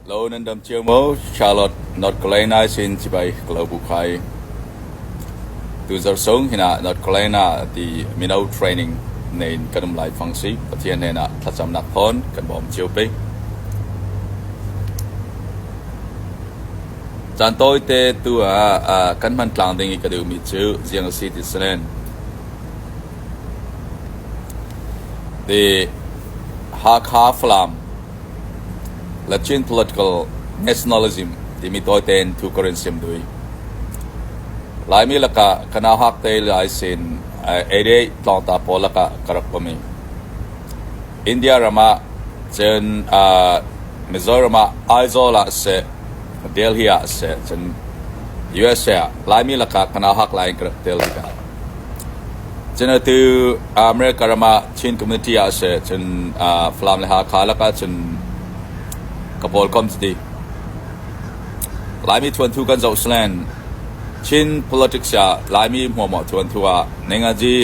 Lo nan dam cio maw Charlotte, North Carolina sin sibai ka lo bu khai. Tuzarh sung hin ah North Carolina ti mino training nein kan um lai fang si Pathian hnenah thlacamnak thawn kan bawm cio pei. Caan tawite tu ah ah kan hman tlang ding i ka duhmi cu ziang a si ti si len. The Hakha Flam, Lachin Political Nationalism timi tawite in thu ka run siam dui. Laimi lakah kana hak te lai sin ede tlawngta pawl lakah ka rak komi. India ramah cun uh, Mizoram ah Aizawl ah se Delhi ah se cun USA ah Laimi lakah kana hak lai in ka rak tel bika. Cun atu America ram ah Chin community ah siseh cun Falam le Hakha lakah cun ka pawlkom cuti. Laimi ṭhuanthu kan zoh silen Chin politics ah Laimi hmuahhmuah ṭhuanthu ah Nengaji,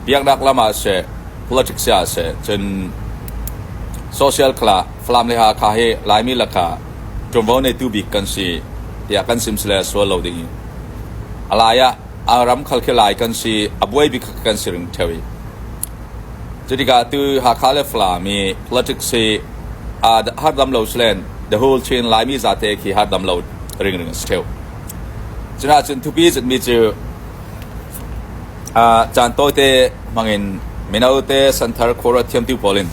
biaknak lam ah siseh, politics ah siseh cun social khal ah Falam le Hakha hi Laimi lakah ṭuanvo neitu bik kan si tiah kan sim sile sual lo ding i. A lai ah ram khal khi lai kan si, a buai bik kha kan si ring ṭheo i cu tikah atu Hakha le Falam i politics hi harhdam lo salen the whole Chin Laimi zate khi harhdam lo ringring a si ṭheu. Cunaahcun thupi citmi cu caan tawite hmangin mino te, santhar, khawra thiamtu pawl in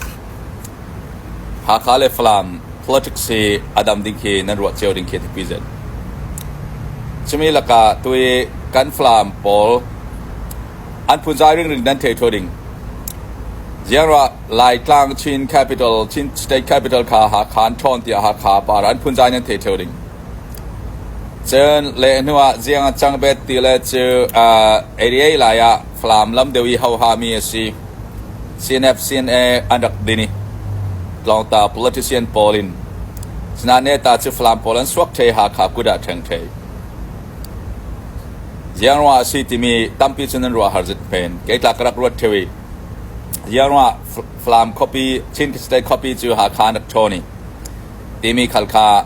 Hakha le Falam politics hi a dam ding khi nan ruah cio ding khi a thipi zet. Cumi lakah tu i kan Falam pawl an phunzai ringring nan thei ṭhaw ding. Ziarah Laitlang Chin capital, Chin state capital kha Hakha an ṭhawn tiah Hakha par an phunzai nan thei ṭheo ding. Cun le hnuah ziang a cang bet ti le cu uh, 88 lai ah Falam lam deuh i hohami a si. CNF-CNA an rak din i Tlawngta politician pawl in Sina Neta cu Falam pawl an suak ṭhei Hakha kut ah ṭheng ṭhei. Ziangruangah a si timi tampi cu nan ruah har zit men. Keitlak ka rak ruat ṭheu i Ziangruangah Falam khuapi, Chin City khuapi cu Hakha an rak ṭhawn i timi khal kha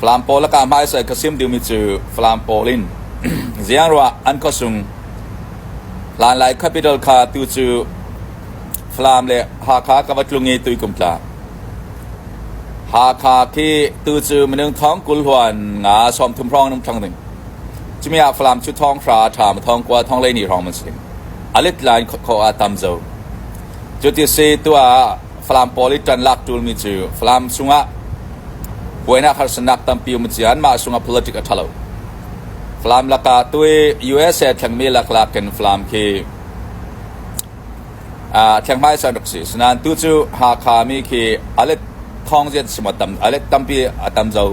Falam pawl a kah hmaisai kha sim duhmi cu Falam pawl in ziangruah an khuasung. Hlanlai capital kha atu cu Falam le Hakha ka va tlung i tuikum tla. Hakha khi tu cu minung thong kul huan nga sawmthum hrawng in um thlang ding. Cumi ah Falam cu thawng hra, ṭham, thawng kua, thonghleini hrawng an si ding. A lit lai khawh ah tam zo. Cu ti si tuah ah Falam pawl i ṭan lak ṭulmi cu Falam sungah buainak harsatnak tampi um a si i anmah sungah politic a ṭha lo. Falam lakah tu i USA thlengmi laklak in Falam khi a thleng hmaisa an rak si. Sinain tu cu Hakha mi khi alet thawngzian si maw tam alet tampi a tam zo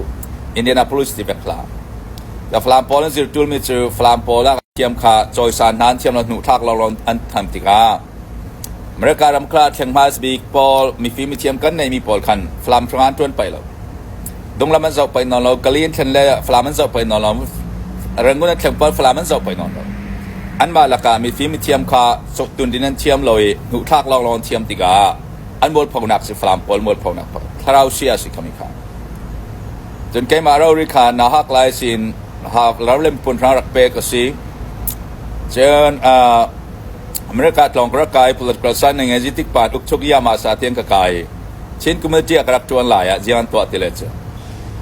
Indianapolis ti pek hla. Da Falam pawl an zir ṭulmi cu Falam pawl ah thiam kha cawisan hna an thiam lo hnuh thlak lo an tham tikah America ram kha thleng hmasabik pawl mifim mithiam kan neihmi pawl khan Falam hrangah an ṭuan peng lo. Dunglam an zoh peng nawn lo. Kali an thlen le Falam an zoh peng nawn lo. Rangoon an thleng pawl Falam an zoh peng nawn lo. Anmah lakah mifim mithiam kha suktun din an thiam lo i hnuhthlak lawnglawng an thiam tikah an mualphonak si Falam pawl mualphonak thlarau sia a si khomi kha. Cun keimah rori kha na hak lai sin hak lar le pun hrang rak pek a si. Cun uh, America tlawng ka rak kai. Political science na ngei. Zeitik pa tluk chuk iam ah sa tiang ka kai. Chin community ah ka rak ṭuan lai ah ziang an tuah ti le cu.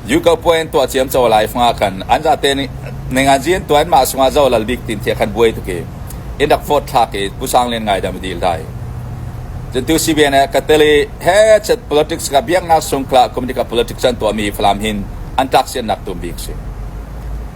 Yuko puai an tuah ciam caw lai fanga khan an zate nih nengan zi an tuan ma sungah zo lal bik tin tia khan buai tuki in rak phot thlak i pusang len ngai dam dil dai. Cuntu CBN he ka tele he chat politics ka biaknak sungkla community ka politics an tuah mi falam hin an tlak sian nak tum bik si.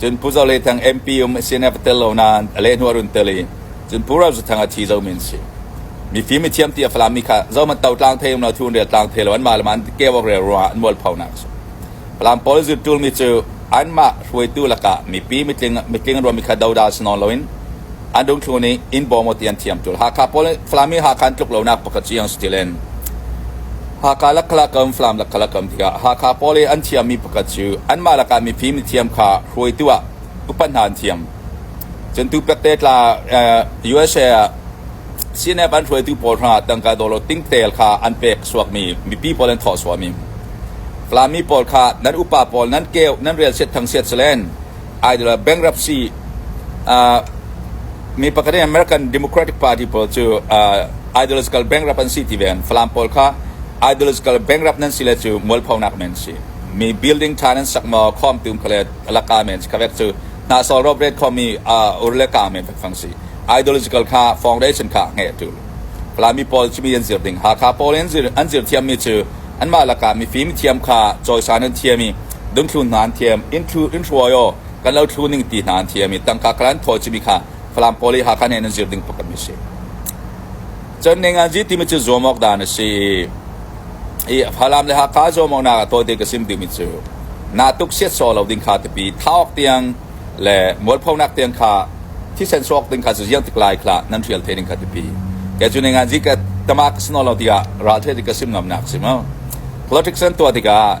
Cun Pu Zo Le Thang MP um a si in a va tel lo nain a lehhnu a run tel i cun Pu Rau Za Thang a thi zomi an si. Mifim a thiam ti a Falam mi kha zohhmanh to tlang thei um lo, thuun rial tlang thei lo, anmah le mah an keuak rel ruangah an mualphonak a si. Falam pawl zut ṭulmi cu anmah hruaitu lakah mipi mitling, mitling an ruahmi kha doda si nawn loin an dungthlu nih in bawm uh ti an thiam tul. Hakha pawl nih Falam hi Hakha an tluk lonak pakhat Ciang si tilen Hakha lakkalakam Falam lakkalakam tikah Hakha pawl i an thiammi pakhat cu anmah lakah mifim thiam kha hruaitu ah upat hna an thiam. Cun tu pekte tla uh, USA ah CNF an hruaitu pawl hna tangka dawlo tingtel kha an pek suakmi mipi pawl an thawh suami Falami pawl kha nan upa pawl nan keu nan rel siat thang siat selen bankruptcy ah mi pakhat in American Democratic Party pawl cu uh, ideological bankrupt an si ti ve an Falam pawl kha ideological bankrupt nan si le cu mualphonak men si mi building tha nan sak maw khom tum khale alaka men si khawek cu na sol rob red khomi uh, urle ka men fek fang si ideological kha foundation kha nge tu Falami pawl cu mi an zir ding Hakha pawl in zir an zir thiam mi cu an ma laka mi fim thiam kha choisan an thiami Dunthlu hna an thiam, in hruai aw, kan lo thlu ning ti hna an thiam i tangka kala an thawi cimi kha Falam pawl i Hakha nen in zir ding pakhat mi a si. Cun Ninganzi timi cu zuam awk dan a si i Falam le Hakha zuamawknak a tawite ka sim timi cu naa tuk siat sawh lo ding kha tipi thaawk tiang le mualphonak tiang kha thisen sawk ding kha cu ziang tik lai khlah nan hrial the ding kha tipi kei cu Ninganzi ka tama ka si nawn lo tiah ral the ka sim ngam nak si mu politics an tuah tikah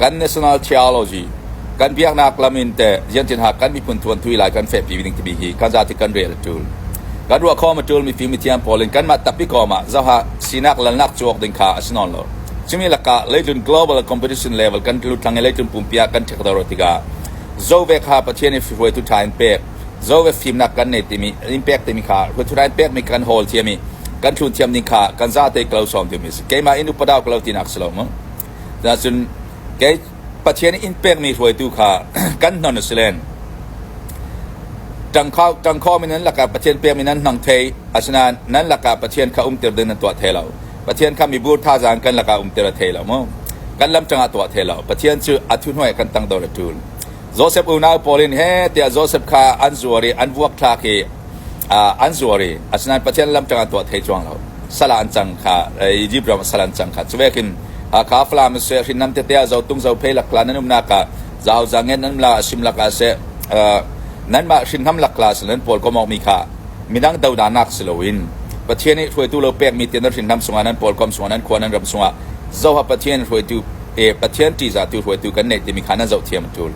kan national theology kan biaknak lam in teh ziantinha kan miphun thuan thui lai kan fehpi ding timi hi kan zati kan rel a tul kan ruah khawm a tul mi fim thiam pawl in kanmah tappi kawm ah zoha sinak lalnak cuak ding kha a si non lo cumi lakah leitlun global competition level kan lut tlang i leitlun pumpi ah kan thek daro tikah zove kha pathian i hruai tu tha in pek zove fimnak kan nei timi in pek timi kha hruai tu tha in pek mi kan hol thiam i kan thlun thiam ding kha kan za te klo som timi si keimah in upadaw klo tinak si lo mu Cuticun kei Pathian inn pekmi hruaitu kha kan hnon a si len. Ṭangkhawm in nan lakah Pathian pekmi nan hmang thei, asinain nan lakah Pathian kha umter ding nan tuah thai lo. Pathian kha mibu thazaang kan lakah umter a thei lo maw? Kan lam ṭangah tuah thei lo. Pathian cu a thuhnuai ah kan tangdor a ṭul. Josef unau pawl in heh tiah Josef kha an zuar i an vuakthlak i an zuar i asinain Pathian lam ṭang ah tuah thei cuang lo. Sal ah an cang kha Izipt ram ah sal an cang kha. Cuvekin Hakha Falam siseh, hrinnam tete ah zotung zophei lakhla nan umnak ah zauzang ngen nan um la asim lakah seh nanmah hrinnam lakla si nan pawlkomawkmi kha midang dodanak si loin Pathian nih hruaitu lo pekmi te nan hrinnam sungah nan pawlkom sungah nan khua nan ram sungah Zoha Pathian hruaitu Pathian ṭihzahtu hruaitu kan neih timi kha nan zohthiam a ṭul.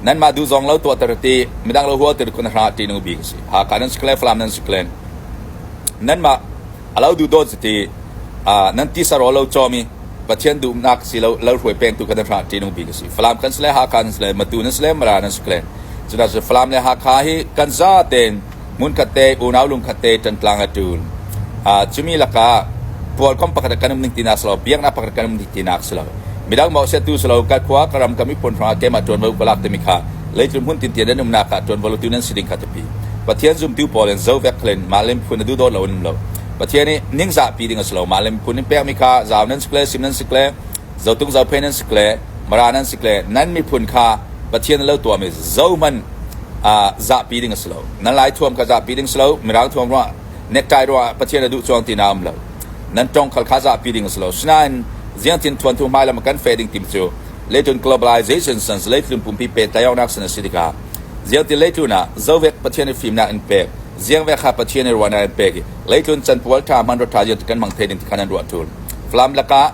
Nanmah duh zong lo tuahter ti midang lo huatter kun hra ṭihnung bik a si. Hakha nan si klen, Falam nan si klen. Nanmah a lo duhdawt ti nan tisaraw lo cawm i Pathian duhnak si lo lo hruai pengtu kha nan hra ṭihnung bik a si. Falam kan si le Hakha nan si le Matu nan si le Mara nan si klen. Cunak cu Falam le Hakha hi kan zaten hmunkhat te unau lungkhat te ṭan tlang a ṭun. Uh, cumi lakah pualkom pakhat kan um ding tinak si lo, biaknak pakhat kan um ding tinak si lo. Midang maw siatu si lo, ka khua ka ram ka miphun hrangah keimah ṭuanvo ka lak timi kha leitlum hun tintian an umnak ah ṭuanvo lotu nan si ding kha tipi. Pathian zumtu pawl in zovek khalin mah lim phun na duh dawt lo an um lo. Pathian nih ningzah pi ding a si lo, mah lim phun in pekmi kha zau nan si kle, sim nan si kle, Zotuk zophei nan si le Mara nan si le nan miphun kha Pathian na lo tuahmi zohman uh, zahpi ding a si lo. Nan laithuam kha zahpi ding si lo. Mirang thuam ruangah nekkai ruangah Pathian a duh chuang ti na um lo. Nan tongkhal kha zahpi ding a si lo. Sinain ziangtin thuanthu hmai lam kan fe ding tim cu leitun globalization san leitlun pumpi pe tayawnak san a si tikah ziangtin leitluna zovek Pathian i fimnak in pek ziangvek ha Pathian i ruahnak in pek i leitlun can pual tha man rot tha kan mang the ding ti khan an ruah tul. Flam lakah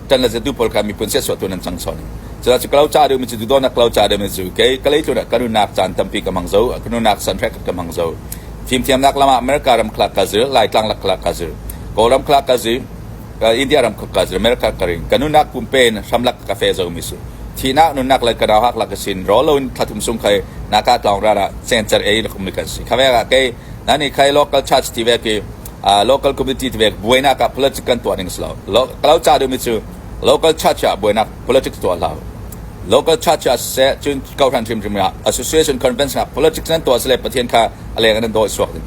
kan le zetu pawl kha miphun siasuah tu nan chang sawn cucu kalo cha deuh mi cu dudo nak kalo cha deuh mi cu kei kalei tlun kan nunak chan tampi ka mang zo kan nunak san hrak ka mang zo fimthiam nak lama america ram khla ka zir lai tlang lak khla ka zir kawlam khla ka zir india ram ka zir america ka ring kan nunak pumpen hramlak ka fe zo mi su thina nunak lai kanau hak lak sin ro lo in thatum sung khai naka tong ra ra center a lakum mi kan si khawe ga ke nani khai local church tive ke local community tivek buainak ah politics kan tuah ning si lo lo ca deuhmi cu local church ah buainak politics tuah hlah local church ah seh cun kohran hrimhrim ah association convention ah politics nan tuah sile pathian kha a leng nan dawi suak ding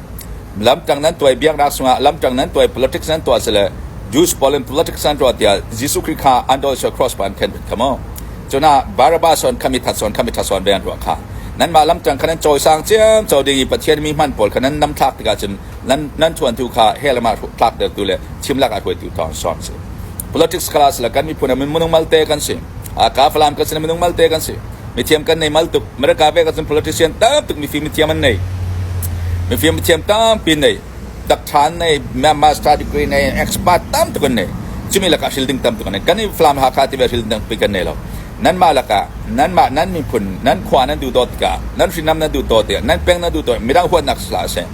lamtang nan tuai biaknak sungah lamtang nan tuai politics nan tuah sile Jews polin politics an tuah tiah Jesuh Christ kha an dawi suak cross pan khen khamo cuna Barabas son khami that son khami that son ve an ruah kha nan ma lamtang khanan choi sang chiam chau ding i pathian mi man pol khanan nam thlak tikah cun nan chuantu kha he le mah tlaktertu le chimlak a hruaitu thawng sawm si politics kala sila kan miphun ah minung malte kan si a ka falam kan si minung malte kan si mithiam kan nei mal tuk mereka ve kan sin politician tam tuk mifim mithiam an nei mifim mithiam tam pin nei dakṭhan nei master degree nei expert tam tuk an nei cumi lakah shielding tam tuk an nei kan i falam ha kha ti ve shielding tam pi kan nei lo nan ma lakah nan ma nan miphun nan khua nan du to tikah nan hrinam nan du to tikah nan peng nan du to midang huatnak sla se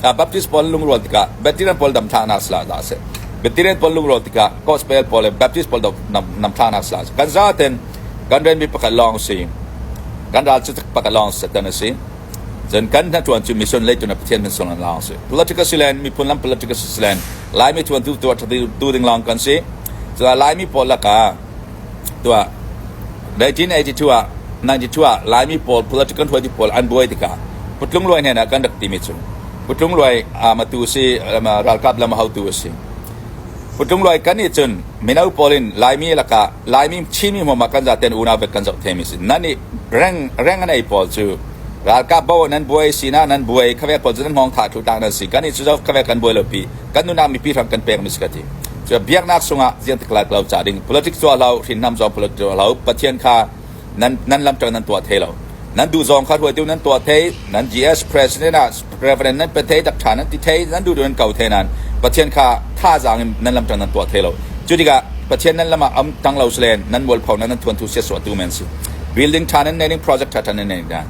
Baptist pawl lungrual tikah bacterian pawl dam thlaknak sal dah a si. Bacterian pawl lungrual tikah gospel pawl le Baptist pawl nam thlaknak sal a si. Kan zaten kan renmi pakhat lawng si, kan ral cu pakhat lawng Satan a si. Cun kan hnaṭuan cu mission leitu na Pathian min sungin lawng a si. Political silen, miphun lam political silen, Laimi ṭuantu tu ding lawng kan si. Cucaah Laimi pawl lakah 1982 ah Laimi pawl political hruaiti pawl an buai tikah Putlungluai hnenah kan rak timi cu Putlungluai matu a si ralkap lam a haotu a si. Putlungluai kan nih cun mino pawl in Laimi lakah Laimi Chinmi hmum ah kan zaten unau vet kan zoh themi a si. Nan nih reng reng an ei pawl cu ralkap bo nan buai sinak nan buai khavek pawl cu nan hngawng thah thlutak nan si. Kan nih cu zo khavek kan buai lo pi. kan nunah mipi hram kan pekmi si ka ti cu biaknak sungah ziang tik lai lo ca ding politic zuah lo hrinnam zong political lo pathian kha nan nan lam tang nan tuah thei lo nan duh zong kha ruai tiu nan tuah thei nan GS president ah reverend nan pe thei dak tha nan ti thei nan duh nan kau thei nan pathian kha tha zang in nan lam tang nan tuah thei lo cu tikah pathian nan lama am tang lo slen nan mual phau nan nan thuan thu sia so tu men si building tha nan nening project tha than nan nening dan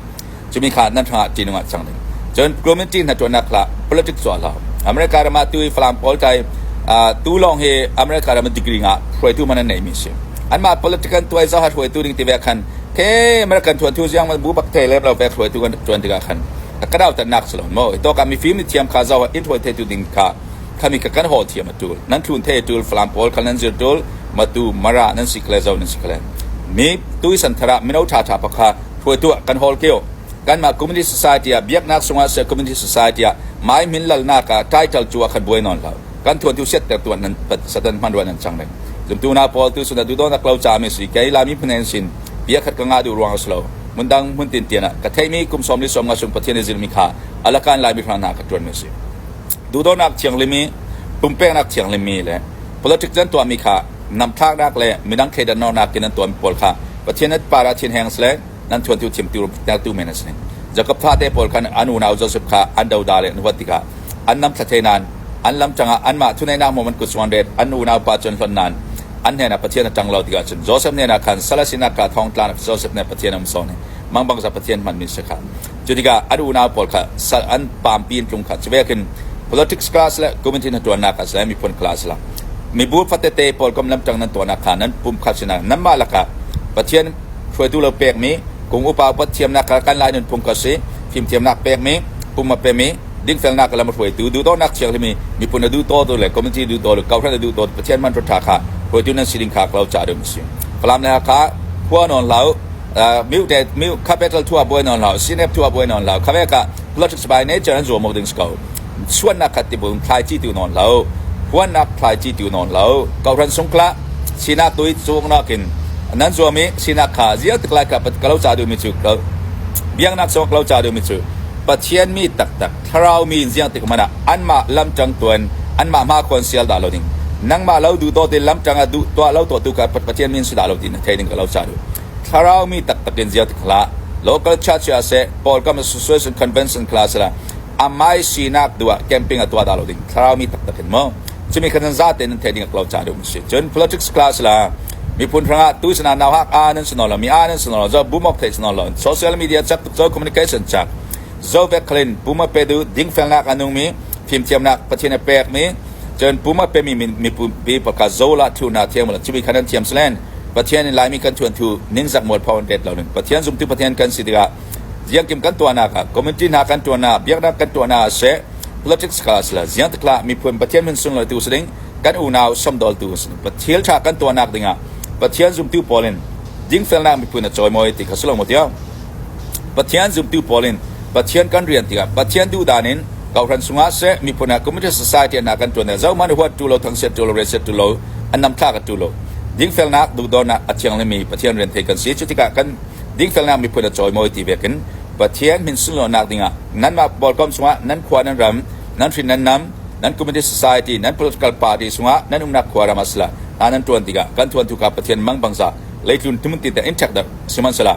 Cumi kha nan hrangah ṭihnung ah cang ding. Cun community hnaṭuannak hla politics tuah hlah. America ram ah tu i Falam pawl tlai tu lawng hi America ram degree ngah hruaitu man an neihmi si. Anmah politician tuai zaha hruaitu ding tive khan ke American thuan thu ziang bu bak thei le lo vek hruaitu kan tuan tikah khan ka dau tannak salon mo to ka mifim ni thiam kha zawa in hruai thetu ding kha khami ka kan hol thiam atul nan thlun the tul falam pawl khan nan zir tul matu mara nan sikle zo nan sikle mi tui santhara mino tha tha pakha phuai tuah kan hawl kio kanmah communist society ah biaknak sungah seh communist society ah mai min lalnak ah title cu ah kan buai nawn lo kan thuan tu set ter tu nan satan hmanruah nan chang deng zumtu na pawl tu suna du don ak lo cha mi si kai lami phunen sin bia khat ka nga du ruang slo mun dang mun tin tiana ka theimi kum som li som nga sum pathian zil mi kha alakan lai mi fana na ka tuan mi si du don ak thiang limi pumpek nak thiang limi le politics jan to mi kha nam thak nak le midang khedan nor nak kinan to mi pol kha Pathian at par ah thin heng sle nan chuantu thimtu tertu men a si ning. Jakob thate pawl khan an unau Josef kha an doda le nuvat tikah an nam thlathei nan an lam cangah anmah thuneinak mo man kut suan ret an unau pa cun hlon nan an hnenah Pathian a ṭang lo tikah cun Josef hnenah khan sala sinak kha thawng tlan Josef nih Pathian a um sawn hi mang bangsa Pathian hmanmi si kha Cu tikah an unau pawl kha sal an paampi in tlung kha cu ve khin politics class le community na ṭuannak class le miphun class a lang. Mibu fatete pawl kam lamṭang nan tuahnak kha nan pum kha sinah nanmah lakah Pathian hruaitu lo pekmi kum upa upat thiamnak kha kan lai nunphung kha si fimthiamnak pekmi pum a pemi dingfelnak lam a hruaitu duhdawnnak thianghlimmi miphun a duhdawntu le community duhdawntu kohhran a duhdawntu Pathian man ṭha kha hruaitu nan si ding kha ka lo caah rim a si. Falam le Hakha khua nawn hlah u miu te miu capital thua buai non lao sinep thua buai non lao khawek ah politics by nature an zuam ding ko suannak khat ti bun thlai chi tu non lo huannak thlai chi tu non lo kauran sungkla sinak tui chung nakin nan zuam i sinak kha zia tiklai ka pat kalo cha du mi chu biang nak sok lo cha du mi chu pathian mi tak tak thlarau mi in ziah tik hmanh ah anmah lamṭang tuan anmah hmakhuan sial dah lo ding nangmah lo duh dawt in lamṭang ah duh tuah lo tuahtu kha Pathian min si dah lo tiin thei ding ka lo ca duh thlarau mi taktak in ziah tik hlah local church ah seh Paul kam association convention khla sela amai sinak duah camping a tuah dah lo ding thlarau mi taktak in mo cumi khan za te nan thei ding lo ca duh si cun politics class la miphun hrangah tu sana naw hak a nan suno lo mi a nan suno lo zo boom of thei suno lo social media chap tuk zo communication chak Zohbekhlin pum a pe duh dingfelnak a nungmi fimthiamnak Pathian a pekmi cun pum a pemi mipi pakhat zola thu hna thiam uh cumi khan an thiam silen Pathian in Laimi kan thuan thu ningzak mual phaw an ret lo ning Pathian zumtu Pathian kan si tikah ziangkim kan tuahnak ah community hna kan tuahnak biaknak kan tuahnak ah seh politics kha sila ziang takla miphun Pathian min sung lo tu siling kan unau samdol tu siling Pathian tha kan tuahnak dingah Pathian zumtu pawl in dingfelnak miphun a chawimawi ti kha silo mo tiao Pathian zumtu pawl in Pathian kan rian tikah Pathian duhdan in kohhran chungah seh miphun ah Communist Society an ah kan ṭuan i zohhmanh huatṭu lo, thangchiat ṭu lo, rianchiatṭu lo, an namthlak a ṭu lo. Dingfelnak, duhdawnnak a thianglimi Pathian rian thei kan si. Cu tikah kan dingfelnak miphun a cawimawi ti vekin Pathian min sunlawinak dingah nanmah pawlkom chungah nan khua, nan ram, nan hrin, nan nam, nan Communist Society, nan political party chungah nan umnak khua, ram ah sila hna nan ṭuan tikah kan thuanthu kha Pathian mang bangza leitlun ṭhumun tinten in ṭhekdarh sihmanhsehlaw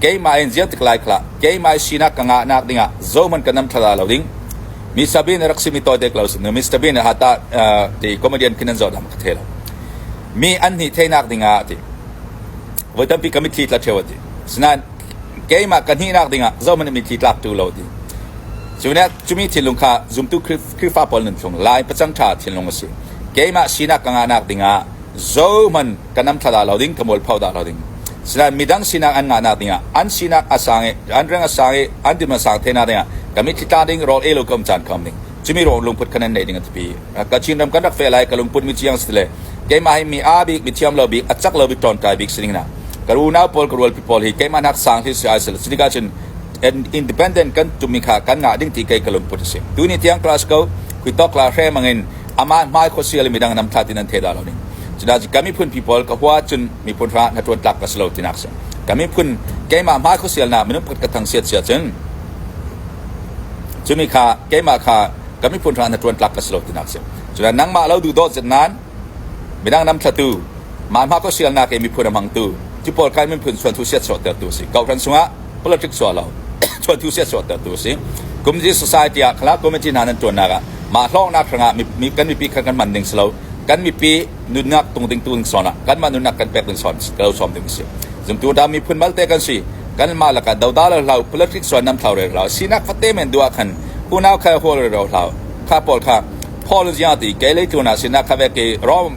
Keimah in ziar tik lai khlah. Keimah i sinak ka ngahnak dingah zohhmanh ka nam thlala lo ding. Mi sabin rak simi tawite ko sinu Mr. Bean ha ta ti comedian khin an zoh dang ka the lo. Mi an hnih theinak dingah ti. Voi tampi ka mitthli tla theo ti. Sinain keimah ka hnihnak dingah zohhmanh mitthli tlak tu lo ti. Cune cumi thinlung kha zumtu Khrihfa pawl nun chung lai pacang ṭha thinlung a si. Keimah sinak ka ngahnak dingah zohhmanh kan nam thla lo ding, ka mualpho da lo ding. Sinain midang sinak an ngahnak dingah, an sinak a sang i, an reng a sang i, an tim a sang thenak dingah, kami thitla ding rol e lo kam chan kham ding. Cumi rol lungput kanen nei ding a tipi. Kachin ram kan rak fe lai, ka lungput mi ciang si le, keimah hi mi a bik, mi thiam lo bik, a cak lo bik, tontai bik sining na. Ka runau paul, ka rual pi paul hi, keimah nak sang hi si ai sel. Sinika chin, independent kan tumi kha kan ngah ding ti kai ka lungput si. Tu ni tiang class ko, kui tok la hre mangin, amah hmai khuasia le midang nam that in an theda lo ning cuda kan miphun people ka hua cun miphun ra na tuan tlak ka silo tinak si kan miphun keimah hmai khuasial na minung pat ka thang siat sia cun cumi kha keimah kha kan miphun ra na tuan tlak ka silo tinak si cuda nangmah lo du dot zet nan midang nam thlatu ma hma khuasial na ke miphun amang tu ti paul kai min phun suan thu siat so ter tu si kau ran sungah politics suah lo suah tu siah suah tertu a si communist society ah khala community hna nan tuannak ah mah hlawknak hrangah kan mipi kha kan man ding si lo kan mipi nunnak tung ding tu ding sawn ah kan mah nunnak kan pek ding sawn lo som ding si zumtu da miphun malte kan si kan mah laka doda lo hlau politics suan nam thlau re hlau sinak fate men dua khan unau kha hol re ro hlau kha pol kha paul jia ti ke le tu na sinak kha ve ke rom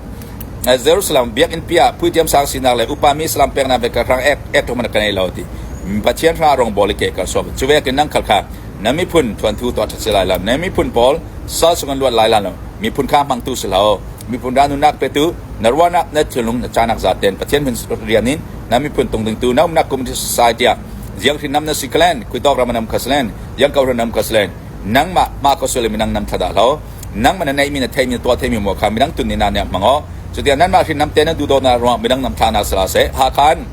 Jerusalem biakinn pi ah puitiam sang sinak le upami saram peknak vialte hrang ek ṭhum in ka ngei lo ti Pathian hra rawngbawl i ke ka sawm. Cu vekin nan khal kha na miphun ṭhuanthu tuah ṭhat si lai lo. Na miphun pawl sal sungin luat lai lo. Miphun kha hmangtu si lo. Miphun ra nunnak petu na ruahnak na thilnung na canak zaten Pathian min rian in na miphun tung dingtu na umnak kum society ah ziang hrinam na si kalen, khuitawk ram nam kha salen, yang kau hranam kha salen, nangmah mah ka sulem nang nan thadah lo. nangmah na neihmi na theihmi na tuah theihmi maw kha midang tun nih na nek hmang aw cutikah nanmah hrinam te na duhdaw hna ruangah midang nam thla nak sila seh Hakan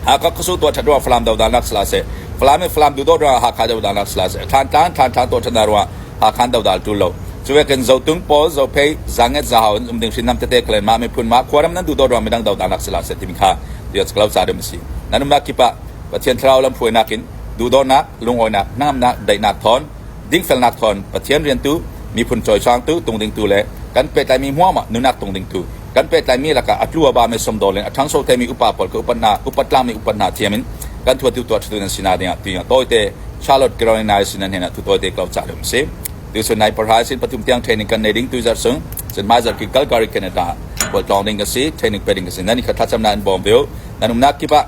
Hakha khusu tuah ṭhat ruangah Falam dodan nak sila seh Falam in Falam duhdaw ruangah Hakha dodan nak sila seh thlan tlan thlan thlan tuah ṭhat na ruangah Hakhan dodal ṭul lo cuvekin zotung pawl zophei zanget zahau in umding hrinam tete kalen ma miphun ma khuaram nan duhdaw ruang midang dodan nak sila seh timi kha dia caklau sa rim si nanum na kipa Pathian thlarau lam phuai nakin duhdaw nak lungawinak hnamnak daihnak thon dingfelnak thawn Pathian riantu, miphun cawisangtu tung dingtu le kan pehtlaimi hmuahhmuah nunnak tung dingtu, kan pehtlaimi lakah a tlu a bami sumdaw le a ṭhangso themi upa pawl kha upat hna upat tlangmi upat hna thiam in kan thuattu tuahṭhatu nan sinak dingah tuing a tawite Charlotte Carolina sinah hnenah thu tawite kau cah ding si tuchun nai parha sin pathum tiang training kan nei ding tuizar sung sin mai zar ki Calgary Canada bol tlong ding ka si training pe ding ka si nan kha thlacamna an bawm beu nan umnak kipah